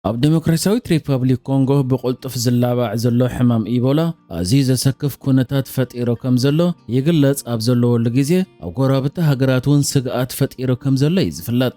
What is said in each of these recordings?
ኣብ ዴሞክራሲያዊት ሪፐብሊክ ኮንጎ ብቕልጡፍ ዝላባዕ ዘሎ ሕማም ኢቦላ ኣዝዩ ዘሰክፍ ኩነታት ፈጢሩ ከም ዘሎ ይግለጽ ኣብ ዘለወሉ ግዜ ኣብ ጎረባብቲ ሃገራት እውን ስግኣት ፈጢሩ ከም ዘሎ እዩ ዝፍለጥ።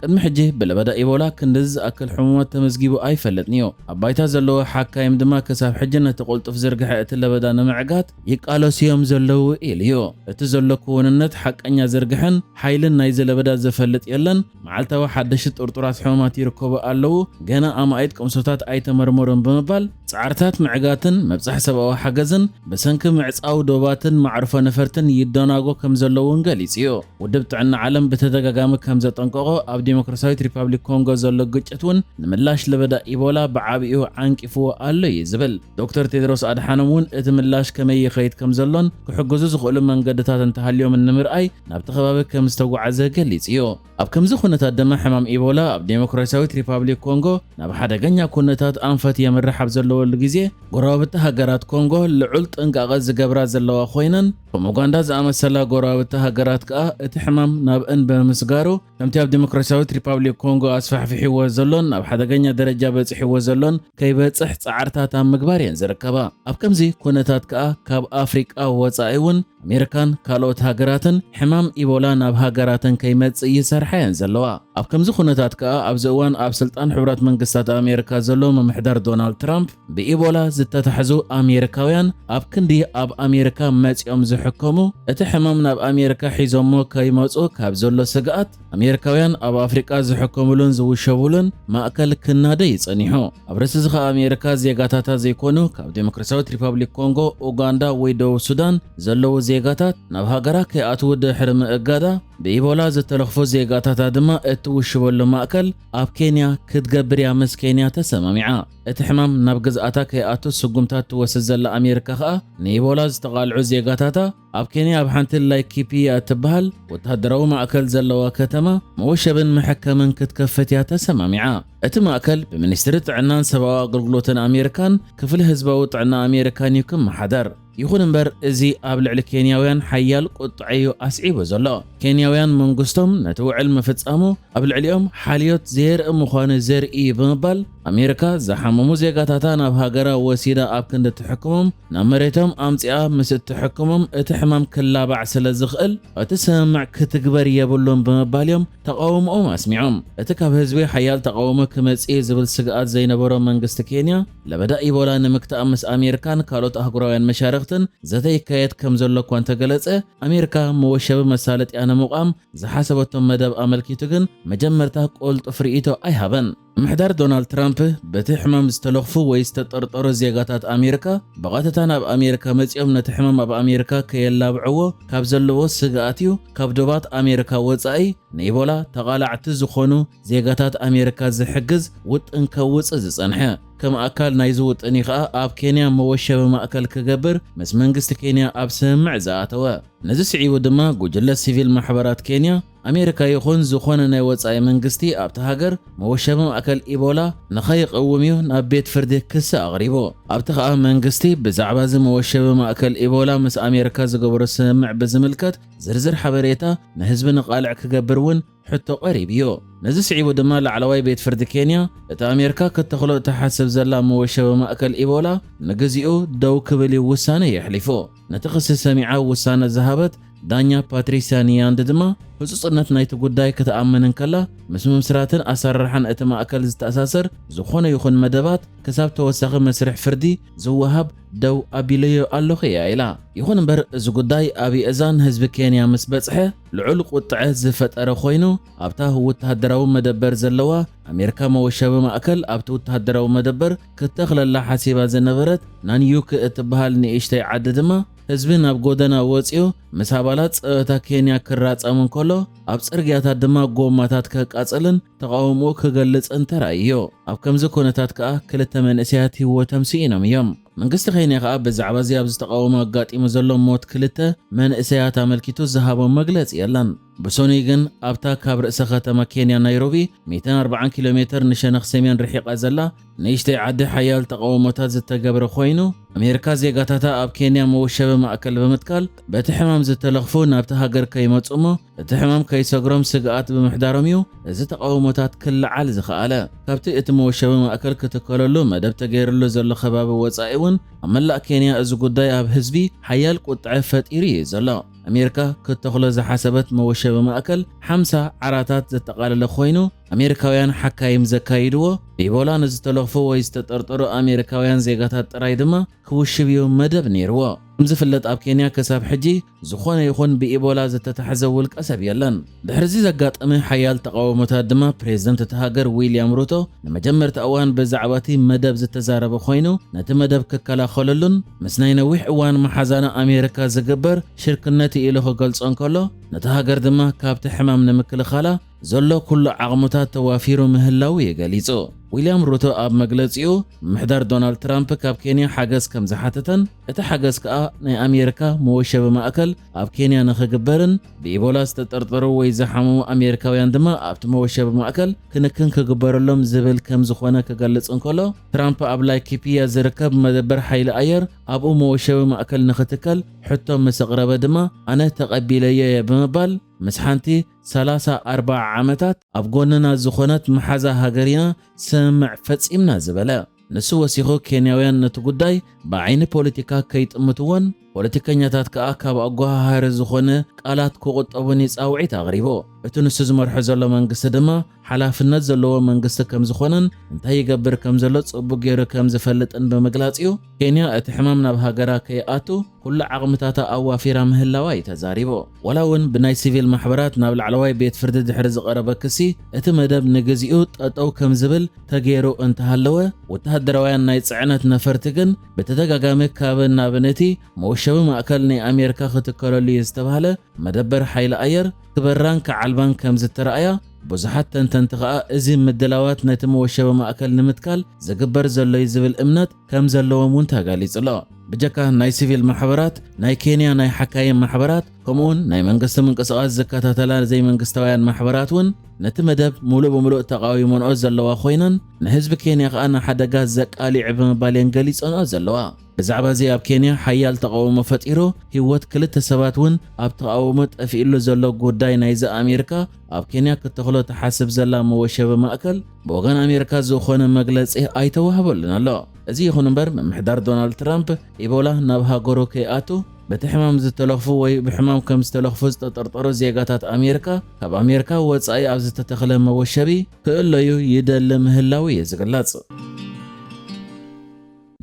ቅድሚ ሕጂ ብለበዳ ኢቦላ ክንድዚ ዝኣክል ሕሙማት ተመዝጊቡ ኣይፈልጥን'ዩ። ኣብ ባይታ ዘለዉ ሓካይም ድማ ክሳብ ሕጂ ነቲ ቅልጡፍ ዝርግሐ እቲ ለበዳ ንምዕጋት ይቃለሱ'ዮም ዘለዉ ኢሉ'ዩ። እቲ ዘሎ ክዉንነት ሓቀኛ ዝርግሐን ሓይልን ናይዚ ለበዳ ዝፈልጥ የለን። መዓልታዊ ሓደሽቲ ጥርጡራት ሕሙማት ይርከቡ ኣለዉ፣ ገና ኣማኢት ቅምሶታት ኣይተመርመሩን ብምባል፣ ጻዕርታት ምዕጋትን ምብጻሕ ሰብኣዊ ሓገዝን ብሰንኪ ምዕጻው ዶባትን መዓርፎ ነፈርትን ይደናጎ ከምዘሎ'ውን ገሊጹ'ዩ። ውድብ ጥዕና ዓለም ብተደጋጋሚ ከምዘጠንቀቖ፣ ኣብ ዲሞክራስያዊት ሪፓብሊክ ኮንጎ ዘሎ ግጭት እውን ንምላሽ ለበዳ ኢቦላ ብዓቢኡ ዓንቂፍዎ ኣሎ እዩ ዝብል። ዶክተር ቴድሮስ ኣድሓኖም እውን እቲ ምላሽ ከመይ ይኸይድ ከምዘሎን ክሕግዙ ዝኽእሉ መንገድታት እንተሃልዮምን ንምርኣይ ናብቲ ከባቢ ከምዝተጓዓዘ ገሊጹ እዩ። ኣብ ከምዚ ኩነታት ድማ ሕማም ኢቦላ ኣብ ዴሞክራስያዊት ሪፓብሊክ ኮንጎ ናብ ሓደገኛ ኩነታት ኣንፈት የምርሕ ኣብ ዘለወሉ ግዜ፣ ጎረባብቲ ሃገራት ኮንጎ ልዑል ጥንቃቐ ዝገብራ ዘለዋ ኮይነን፣ ከም ኡጋንዳ ዝኣመሰላ ጎረባብቲ ሃገራት ከኣ እቲ ሕማም ናብ እን ብምስጋሩ ከምቲ ኣብ ዲሞክራሲያዊት ሪፓብሊክ ኮንጎ ኣስፋሕፊሕዎ ዘሎን ናብ ሓደገኛ ደረጃ በጺሕዎ ዘሎን ከይበጽሕ ጻዕርታት ኣብ ምግባር እየን ዝርከባ። ኣብ ከምዚ ኩነታት ከኣ ካብ ኣፍሪቃ ወጻኢ እውን ኣሜሪካን ካልኦት ሃገራትን ሕማም ኢቦላ ናብ ሃገራተን ከይመጽእ ይሰርሓ እየን ዘለዋ። ኣብ ከምዚ ኩነታት ከኣ ኣብዚ እዋን ኣብ ስልጣን ሕቡራት መንግስታት ኣሜሪካ ዘሎ ምምሕዳር ዶናልድ ትራምፕ ብኢቦላ ዝተታሕዙ ኣሜሪካውያን ኣብ ክንዲ ኣብ ኣሜሪካ መጺኦም ዝሕከሙ እቲ ሕማም ናብ ኣሜሪካ ሒዞሞ ከይመጹ ካብ ዘሎ ስግኣት ኣሜሪካውያን ኣብ ኣፍሪቃ ዝሕከሙሉን ዝውሸቡሉን ማእከል ክናደይ ጸኒሑ። ኣብ ርእሲ እዚ ኸኣ ኣሜሪካ ዜጋታታ ዘይኮኑ ካብ ዴሞክራሲያዊት ሪፓብሊክ ኮንጎ፣ ኡጋንዳ ወይ ደቡብ ሱዳን ዘለዉ ዜጋታት ናብ ሃገራ ከይኣትዉ ድሕሪ ምእጋዳ ብኢቦላ ዝተለኽፉ ዜጋታታ ድማ እትውሽበሉ ማእከል ኣብ ኬንያ ክትገብር እያ ምስ ኬንያ ተሰማሚዓ። እቲ ሕማም ናብ ግዝኣታ ከይኣቱ ስጉምታት ትወስድ ዘላ ኣሜሪካ ከኣ፣ ንኢቦላ ዝተቓልዑ ዜጋታታ ኣብ ኬንያ ኣብ ሓንቲ ላይኪፒያ እትበሃል ወተሃደራዊ ማእከል ዘለዋ ከተማ መወሸብን መሐከምን ክትከፍት እያ ተሰማሚዓ። እቲ ማእከል ብሚኒስትሪ ጥዕናን ሰብኣዊ ኣገልግሎትን ኣሜሪካን ክፍሊ ህዝባዊ ጥዕና ኣሜሪካን እዩ ክመሓደር። ይኹን እምበር እዚ ኣብ ልዕሊ ኬንያውያን ሓያል ቁጥዐ'ዩ ኣስዒቡ ዘሎ። ኬንያውያን መንግስቶም ነቲ ውዕል ምፍጻሙ ኣብ ልዕሊኦም ሓልዮት ዘየርኢ ምዃኑ ዘርኢ'ዩ ብምባል ኣሜሪካ ዝሓመሙ ዜጋታታ ናብ ሃገራ ወሲዳ ኣብ ክንዲ ትሕክሞም ናብ መሬቶም ኣምጺኣ ምስ እትሕክሞም እቲ ሕማም ክላባዕ ስለዝኽእል እቲ ስምምዕ ክትግበር የብሉን ብምባል'ዮም ተቓውምኦም ኣስሚዖም። እቲ ካብ ህዝቢ ሓያል ተቓውሞ ክመጽእ'ዩ ዝብል ስግኣት ዘይነበሮ መንግስቲ ኬንያ፣ ለበዳ ኢቦላ ንምግታእ ምስ ኣሜሪካን ካልኦት ኣህጉራውያን መሻርኽትን ዘተ ይካየድ ከምዘሎ እኳ እንተገለጸ፣ ኣሜሪካ መወሸቢ መሳለጥያ ንምቛም ዝሓሰበቶ መደብ ኣመልኪቱ ግን መጀመርታ ቅልጡፍ ርእይቶ ኣይሃበን። ምምሕዳር ዶናልድ ትራምፕ በቲ ሕማም ዝተለኽፉ ወይ ዝተጠርጠሩ ዜጋታት ኣሜሪካ ብቐጥታ ናብ ኣሜሪካ መጺኦም ነቲ ሕማም ኣብ ኣሜሪካ ከየላብዕዎ ካብ ዘለዎ ስግኣት'ዩ ካብ ዶባት ኣሜሪካ ወጻኢ ንኢቦላ ተቓላዕቲ ዝኾኑ ዜጋታት ኣሜሪካ ዝሕግዝ ውጥን ከውጽእ ዝጸንሐ። ከም ኣካል ናይዚ ውጥን እዩ ከኣ ኣብ ኬንያ መወሸቢ ማእከል ክገብር ምስ መንግስቲ ኬንያ ኣብ ስምምዕ ዝኣተወ። ነዚ ስዒቡ ድማ ጉጅለ ሲቪል ማሕበራት ኬንያ፣ ኣሜሪካ ይኹን ዝኾነ ናይ ወጻኢ መንግስቲ ኣብታ ሃገር መወሸቢ ማእከል ኢቦላ ንኸይቕውም እዩ ናብ ቤት ፍርዲ ክሲ ኣቕሪቡ። ኣብቲ ከኣ መንግስቲ ብዛዕባ እዚ መወሸቢ ማእከል ኢቦላ ምስ ኣሜሪካ ዝገበሮ ስምምዕ ብዝምልከት፣ ዝርዝር ሓበሬታ ንህዝቢ ንቓልዕ ክገብር እውን ሕቶ ቀሪቡዮ። ነዚ ስዒቡ ድማ ላዕለዋይ ቤት ፍርዲ ኬንያ እቲ ኣሜርካ ከተኽሎ እትሓስብ ዘላ መወሸቢ ማእከል ኢቦላ ንግዚኡ ደው ክብል እዩ ውሳነ የሕሊፉ። ነቲ ክሲ ሰሚዓ ውሳነ ዝሃበት ዳኛ ፓትሪስያ ኒያንድ ድማ ህጹጽነት ናይቲ ጉዳይ ክትኣምን እንከላ ምስ ምምስራትን ኣሰራርሓን እቲ ማእከል ዝተኣሳሰር ዝኾነ ይኹን መደባት ክሳብ ተወሳኺ መስርሕ ፍርዲ ዝወሃብ ደው ኣቢለዮ ኣለኹ እያ ኢላ። ይኹን እምበር እዚ ጉዳይ ኣብ የእዛን ህዝቢ ኬንያ ምስ በጽሐ ልዑል ቁጥዐ ዝፈጠረ ኮይኑ፣ ኣብታ ወተሃደራዊ መደበር ዘለዋ ኣሜሪካ መወሻቢ ማእከል ኣብቲ ወተሃደራዊ መደበር ክተኽለላ ሓሲባ ዝነበረት ናንዩክ እትበሃል ንእሽተይ ዓዲ ድማ ህዝቢ ናብ ጎደና ወጺኡ ምስ ኣባላት ጸጥታ ኬንያ ክራጸም እንከሎ ኣብ ጽርግያታት ድማ ጎማታት ከቃጽልን ተቓውሞኡ ክገልጽ እንተራእዩዮ። ኣብ ከምዚ ኩነታት ከኣ ክልተ መንእሰያት ህይወቶም ስኢኖም እዮም። መንግስቲ ኬንያ ከኣ ብዛዕባዚ ኣብዚ ተቓውሞ ኣጋጢሙ ዘሎ ሞት ክልተ መንእሰያት ኣመልኪቱ ዝሃቦ መግለጺ የለን። ብሰኑይ ግን ኣብታ ካብ ርእሰ ከተማ ኬንያ ናይሮቢ ሚእትን ኣርባዓን ኪሎ ሜተር ንሸነኽ ሰሜን ርሒቓ ዘላ ንእሽተይ ዓዲ ሓያል ተቓውሞታት ዝተገብረ ኮይኑ፣ ኣሜሪካ ዜጋታታ ኣብ ኬንያ መወሸቢ ማእከል ብምትካል በቲ ሕማም ዝተለኽፉ ናብታ ሃገር ከይመጹ እሞ እቲ ሕማም ከይሰግሮም ስግኣት ብምሕዳሮም እዩ እዚ ተቓውሞታት ክለዓል ዝኸኣለ። ካብቲ እቲ መወሸቢ ማእከል ክትከለሉ መደብ ተገይርሉ ዘሎ ከባቢ ወጻኢ እውን ኣብ መላእ ኬንያ እዚ ጉዳይ ኣብ ህዝቢ ሓያል ቁጥዐ ፈጢሩ እዩ ዘሎ። ኣሜሪካ ክትተኽሎ ዝሓሰበት መወሸቢ ማእከል ሓምሳ ዓራታት ዘጠቓለለ ኮይኑ፣ ኣሜሪካውያን ሓካይም ዘካይድዎ፣ ብኢቦላ ንዝተለኽፉ ወይ ዝተጠርጠሩ ኣሜሪካውያን ዜጋታት ጥራይ ድማ ክውሽብ'ዩ መደብ ነይርዎ። ከም ዝፍለጥ ኣብ ኬንያ ክሳብ ሕጂ ዝኾነ ይኹን ብኢቦላ ዝተታሕዘ ውልቀሰብ የለን። ድሕሪ'ዚ ዘጋጠመ ሓያል ተቓውሞታት ድማ ፕሬዝደንት እታ ሃገር ዊልያም ሩቶ ንመጀመርታ እዋን ብዛዕባ'ቲ መደብ ዝተዛረበ ኮይኑ ነቲ መደብ ክከላኸለሉን ምስ ናይ ነዊሕ እዋን መሓዛና ኣሜሪካ ዝግበር ሽርክነት'ዩ ኢሉ ክገልጾ እንከሎ ነታ ሃገር ድማ ካብቲ ሕማም ንምክልኻላ ዘሎ ኩሉ ዓቕምታት ተዋፊሩ ምህላዉ እዩ ገሊጹ። ዊልያም ሩቶ ኣብ መግለጺኡ፣ ምምሕዳር ዶናልድ ትራምፕ ካብ ኬንያ ሓገዝ ከም ዝሓተተን እቲ ሓገዝ ከኣ ናይ ኣሜሪካ መወሸቢ ማእከል ኣብ ኬንያ ንኽግበርን ብኢቦላ ዝተጠርጠሩ ወይ ዝሓመሙ ኣሜሪካውያን ድማ ኣብቲ መወሸቢ ማእከል ክንክን ክግበረሎም ዝብል ከም ዝኾነ ክገልጽ እንከሎ ትራምፕ ኣብ ላይኪፒያ ዝርከብ መደበር ሓይሊ ኣየር ኣብኡ መወሸቢ ማእከል ንኽትከል ሕቶ ምስ ኣቕረበ ድማ ኣነ ተቐቢለዮ እየ ብምባል ምስ ሓንቲ ሰላሳ ኣርባዓ ዓመታት ኣብ ጎንና ዝኾነት መሓዛ ሃገር ኢና ስምምዕ ፈጺምና ዝበለ ንሱ ወሲኹ ኬንያውያን ነቲ ጉዳይ ብዓይኒ ፖለቲካ ከይጥምትዎን ፖለቲከኛታት ከኣ ካብ ኣጓሃሃሪ ዝኾነ ቃላት ክቑጠቡን እዩ ጻውዒት ኣቕሪቡ። እቲ ንሱ ዝመርሖ ዘሎ መንግስቲ ድማ ሓላፍነት ዘለዎ መንግስቲ ከም ዝኾነን እንታይ ይገብር ከም ዘሎ ጽቡቕ ገይሩ ከም ዝፈልጥን ብምግላጽ እዩ ኬንያ እቲ ሕማም ናብ ሃገራ ከይኣቱ ኩሉ ዓቕምታታ ኣዋፊራ ምህላዋ'ዩ ተዛሪቡ። ዋላ እውን ብናይ ሲቪል ማሕበራት ናብ ላዕለዋይ ቤት ፍርዲ ድሕሪ ዝቐረበ ክሲ እቲ መደብ ንግዚኡ ጠጠው ከም ዝብል ተገይሩ እንተሃለወ፣ ወተሃደራውያን ናይ ጽዕነት ነፈርቲ ግን ብተደጋጋሚ ካብን ናብን እቲ መወሸቢ ማእከል ናይ ኣሜሪካ ክትከለሉ'ዩ ዝተባህለ መደበር ሓይሊ ኣየር ክበራን ክዓልባን ከም ዝተራእያ ብዙሓት ተንተንቲ ከኣ እዚ ምድላዋት ነቲ መወሸቢ ማእከል ንምትካል ዝግበር ዘሎ'ዩ ዝብል እምነት ከም ዘለዎም እውን ተገሊጹ ኣሎ። ብጀካ ናይ ሲቪል ማሕበራት፣ ናይ ኬንያ ናይ ሓካይም ማሕበራት፣ ከምኡውን ናይ መንግስቲ ምንቅስቓስ ዝከታተላ ዘይመንግስታውያን ማሕበራት እውን ነቲ መደብ ምሉእ ብምሉእ ተቓዊመንኦ ዘለዋ ኮይነን፣ ንህዝቢ ኬንያ ከኣ ንሓደጋ ዘቃሊዕ ብምባል እየን ገሊጸንኦ ዘለዋ። ብዛዕባ እዚ ኣብ ኬንያ ሓያል ተቓውሞ ፈጢሩ ህይወት ክልተ ሰባት እውን ኣብ ተቓውሞ ጠፊእሉ ዘሎ ጉዳይ ናይዚ ኣሜሪካ ኣብ ኬንያ ክተኽሎ ትሓስብ ዘላ መወሸቢ ማእከል ብወገን ኣሜሪካ ዝኾነ መግለጺ ኣይተዋህበሉን ኣሎ። እዚ ይኹን እምበር ምምሕዳር ዶናልድ ትራምፕ ኢቦላ ናብ ሃገሩ ከይኣቱ በቲ ሕማም ዝተለኽፉ ወይ ብሕማም ከም ዝተለኽፉ ዝተጠርጠሩ ዜጋታት ኣሜሪካ ካብ ኣሜሪካ ወጻኢ ኣብ ዝተተኽለ መወሸቢ ክእለዩ ይደሊ ምህላዉ እዩ ዝግለጽ።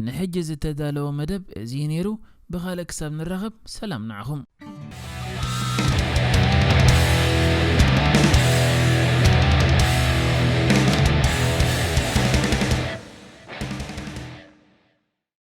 ንሕጂ ዝተዳለወ መደብ እዚ እዩ ነይሩ ብኻልእ ክሳብ ንራኸብ ሰላም ንዓኹም።